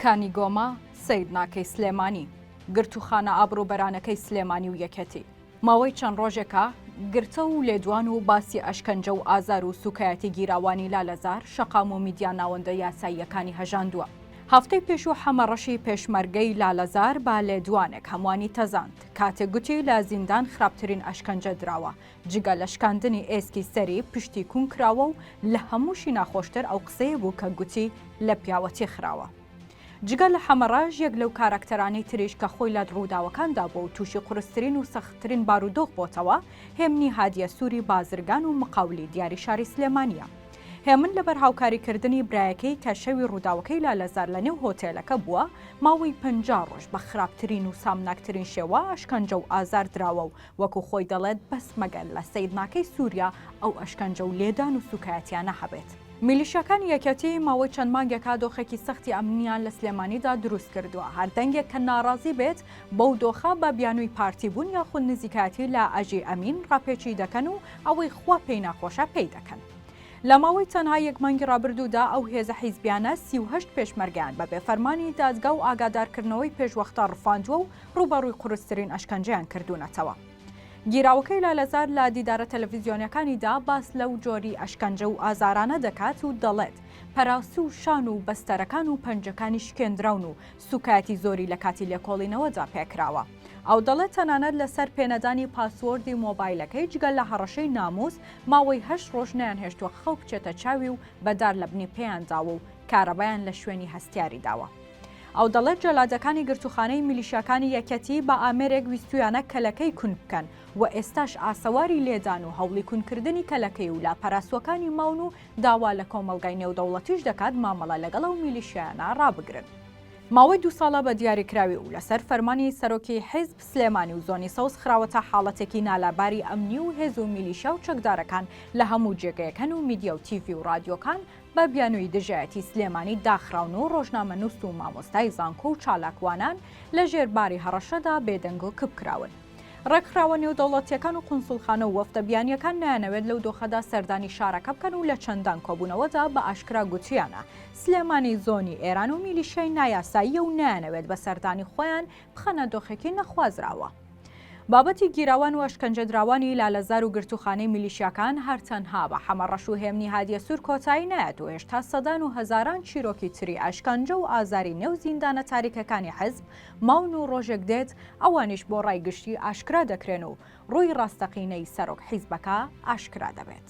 کانی گۆما سەیر ناکەی سلێمانی. گرتووخانە ئابڕووبەرانەکەی سلێمانی و یەکێتی. ماوەی چەند ڕۆژێکە گرتە و لێدوان و باسی ئەشکەنجە و ئازار و سووکایەتی گیراوانی لالەزار شەقام و میدیا ناوەندە یاساییەکانی هەژاندووە. هەفتەی پێشوو حەمە ڕەشی پێشمەرگەی لالەزار بە لێدوانێک هەمووانی تەزاند کاتێک گوتی لە زیندان خراپترین ئەشکەنجە دراوە جگە لە شکاندنی ئێسکی سەری، پشتی کون کراوە و لە هەمووشی ناخۆشتر ئەو قسەیە بوو کە گوتی لە پیاوەتی خراوە. جگە لە حەمەڕەش، یەک لەو کاراکتەرانەی تریش کە خۆی لە ڕووداوەکاندا بووە و تووشی قورسترین و سەختترین بارودۆخ بۆتەوە، هێمنی هادیە سووری بازرگان و مقاولی دیاری شاری سلێمانییە. هێمن لەبەر هاوکاریکردنی برایەکەی کە شەوی ڕووداوەکەی لالەزار لە نێو هۆتێلەکە بووە، ماوەی پەنجا ڕۆژ بە خراپترین و سامناکترین شێوە ئەشکەنجە و ئازار دراوە و وەکو خۆی دەڵێت بەس مەگەر لە سەیرناکەی سوریا ئەو ئەشکەنجە و لێدان و سوکایەتیانە هەبێت. میلیشیاکانی یەکێتی ماوەی چەند مانگێکە دۆخێکی سەختی ئەمنییان لە سلێمانیدا دروست کردووە، هەر دەنگێک کە ناڕازی بێت بەو دۆخە بە بیانووی پارتی بوون یاخود نزیکایەتی لە ئەژی ئەمین ڕاپێچی دەکەن و ئەوەی خوا پێی ناخۆشە پێی دەکەن. لە ماوەی تەنها یەک مانگی ڕابردوودا ئەو هێزە حیزبیانە سی و هەشت پێشمەرگەیان بەبێ فەرمانی دادگا و ئاگادارکردنەوەی پێشوەختە ڕفاندووە و ڕووبەڕووی قورسترین ئەشکەنجەیان کردوونەتەوە. گیراوەکەی لالەزار لە دیدارە تەلەڤیزیۆنیەکانیدا باس لەو جۆری ئەشکەنجە و ئازارانە دەکات و دەڵێت، پەراسو و شان و بەستەرەکان و پەنجەکانی شکێندراون و سوکایەتی زۆری لە کاتی لێکۆڵینەوەدا پێکراوە. ئەو دەڵێت تەنانەت لەسەر پێنەدانی پاسوۆردی مۆبایلەکەی جگە لە هەڕەشەی ناموس ماوەی هەشت ڕۆژ نەیانهێشتووە خەو بچێتە چاوی و بە دار لەبنی پێیان داوە و کارەبایان لە شوێنی هەستیاری داوە. ئەو دەڵێت جەلادەکانی گرتووخانەی میلیشیاکانی یەکێتی بە ئامێرێک ویستوویانە کەلەکەی کون بکەن و ئێستاش ئاسەواری لێدان و هەوڵی کونکردنی کەلەکەی و لاپەراسووەکانی ماون و داوا لە کۆمەڵگای نێودەوڵەتیش دەکات مامەڵە لەگەڵ ئەو میلیشیایانە ڕابگرن. ماوەی دوو ساڵە بە دیاریکراوی و لەسەر فەرمانی سەرۆکی حیزب، سلێمانی و زۆنی سەوز خراوەتە حاڵەتێکی نالاباری ئەمنی و هێز و میلیشیا و چەکدارەکان لە هەموو جێگەیەک هەن و میدیا و تیڤی و ڕادیۆکان بە بیانووی دژایەتی سلێمانی داخراون و ڕۆژنامەنووس و مامۆستای زانکۆ و چالاکوانان لە ژێر باری هەڕەشەدا بێدەنگ و کپ کراون. ڕێکخراوە نێودەوڵەتییەکان و قونسوڵخانە و وەفدە بیانییەکان نایانەوێت لەو دۆخەدا سەردانی شارەکە بکەن و لە چەندان کۆبوونەوەدا بە ئاشکرا گوتویانە سلێمانی زۆنی ئێران و میلیشیای نایاساییە و نایانەوێت بە سەردانی خۆیان بخەنە دۆخێکی نەخوازراوە. بابەتی گیراوان و ئەشکەنجەدراوانی لالەزار و گرتووخانەی میلیشیاکان هەر تەنها بە حەمەڕەش و هێمنی هادیەسوور کۆتایی نایەت و هێشتا سەدان و هەزاران چیرۆکی تری ئەشکەنجە و ئازاری نێو زیندانە تاریکەکانی حزب ماون و ڕۆژێک دێت ئەوانیش بۆ ڕای گشتی ئاشکرا دەکرێن و ڕووی ڕاستەقینەی سەرۆک حیزبەکە ئاشکرا دەبێت.